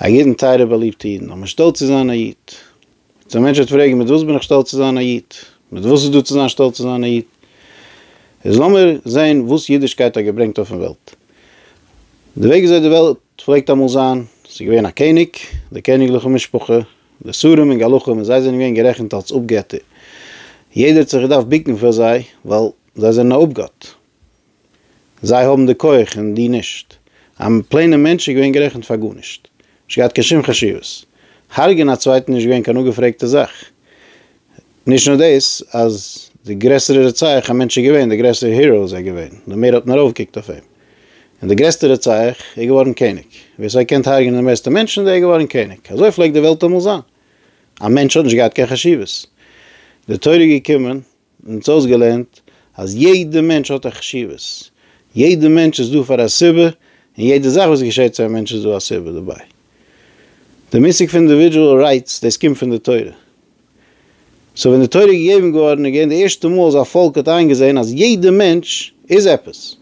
א ידען טייערע באליבטע אידן אז מען איז שטאלץ צו זיין א איד. יעצט א מענטש וועט פרעגן מיט וואס בין איך שטאלץ צו זיין א איד? מיט וואס איז דא צו זיין שטאלץ צו זיין א איד? איז לאמיר זעהן וואס אידישקייט האט געברענגט אויפן וועלט. די וועג וויאזוי די וועלט פלעגט אמאל זיין, ס'איז געווען א קעניג, די קעניגליכע משפחה, די שרים און גלחים און זיי זענען געווען גערעכנט אלס אפגעטער. יעדער האט זיך געדארפט ביקן פאר זיי ווייל זיי זענען א אפגאט. זיי האבן די כח און דו נישט. א פלעינע מענטש איז געווען גערעכנט פאר גארנישט. נישט געהאט קיין שום חשיבות. הרג'ען א צווייטן נישט געווען קיין אפגעפרעגטע זאך. נישט נאר דאס, אז די גרעסערע רוצח א מענטש איז געווען, די גרעסערע hero איז ער געווען, די מער האט מען ארויפגעקוקט אויף אים. און די גרעסטע רוצח איז געווארן קעניג. ווער ס'האט געקענט הרג'ענען די מערסטע מענטשן, דער איז געווארן קעניג. אזוי פלעגט די וועלט אמאל זיין. א מענטש האט נישט געהאט קיין חשיבות. די תורה איז געקומען מען האט אויסגעלערנט אז יעדע מענטש האט א חשיבות, יעדע מענטש איז דא פאר א סיבה, און יעדע זאך וואס געשעט צו א מענטש איז דא א סיבה דערביי. די מושג פון אינדיווידועל רייטס, דאס קומט פון די תורה. סאו ווען די תורה איז געגעבן געווארן איז געווען די ערשטע מאל אז א פאלק האט איינגעזען אז יעדע מענטש איז עפעס,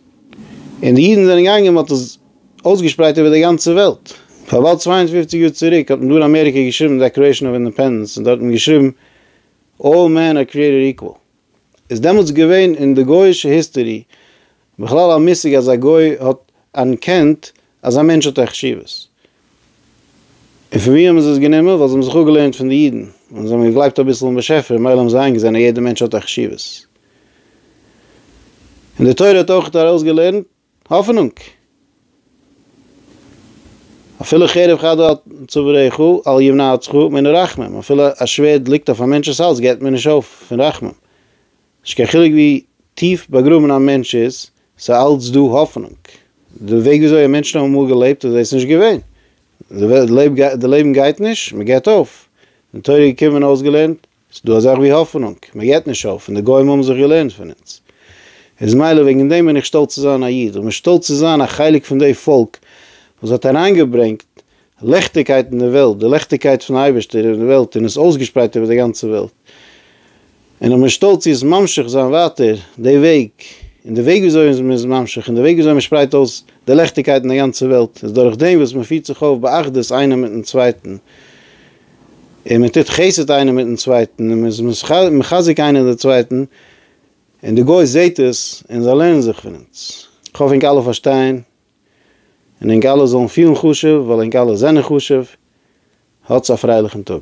און די אידן זענען געגאנגען און מען האט עס אויסגעשפרייט איבער די גאנצע וועלט. פאר באלד צוויי און פופציג יאר צוריק האט מען דא אין אמעריקע געשריבן דעקלערעישן אוו אינדעפענדענס און דארט האט מען געשריבן, אלל מען אר קריעטעד איקוואל. איז דעמאלטס געווען אין די גויאישע היסטערי בכלל א מושג אז א גוי האט אנערקענט אז א מענטש האט א חשיבות? און פון ווי האבן זיי עס גענומען? ווייל זיי האבן זיך אפגעלערנט פון די אידן און זיי האבן געגלייבט אביסל אין באשעפער און ממילא האבן זיי איינגעזען אז יעדער מענטש האט א חשיבות. און די תורה האט אויך ארויסגעלערנט האפענונג! אפילו חרב חדה על צוואריך אל ימנעתך מן רחמים, אפילו א שווערד ליגט אויף א מענטש'ס האלז געבט מען נישט אויף פון רחמים. נישט קיין חילוק ווי טיף באגראבן א מענטש איז, ס'איז אלץ דא האפענונג. די וועג ווי אזוי מענטשן האבן אמאל געלעבט איז דאס נישט געווען. די לעבן גייט נישט, מ'געבט אויף. אין תורה געקומען אויסגעלערנט, ס'איז דא א זאך ווי האפענונג, מען געבט נישט אויף, און די גוים האבן זיך געלערנט פון אונז. איז מילא וועגן דעם בין איך שטאלץ צו זיין א איד, און שטאלץ צו זיין א חלק פון די פאלק וואס האט אריינגעברענגט לעכטיגקייט אין די וועלט, די לעכטיגקייט פון אייבערשטער אין די וועלט און עס אויסגעשפרייט איבער די גאנצע וועלט. און איך בין שטאלץ צו עס ממשיך זיין ווייטער די וועג, און די וועג וויאזוי מען איז ממשיך און די וועג וויאזוי מען שפרייט אויס די לעכטיגקייט אין די גאנצע וועלט איז דורך דעם וואס מען פירט זיך אויף באחדות איינער מיטן צווייטן, און מען טוט חסד איינער מיטן צווייטן, און מען איז מחזק איינער די צווייטן, און די גוי זעט עס, און זיי לערנען זיך פון אונז. כ'האף ענק אלע פארשטייען, און ענק אלע זאלן פילן חשוב, ווייל ענק אלע זענען חשוב. האטס א פרייליכן טאג.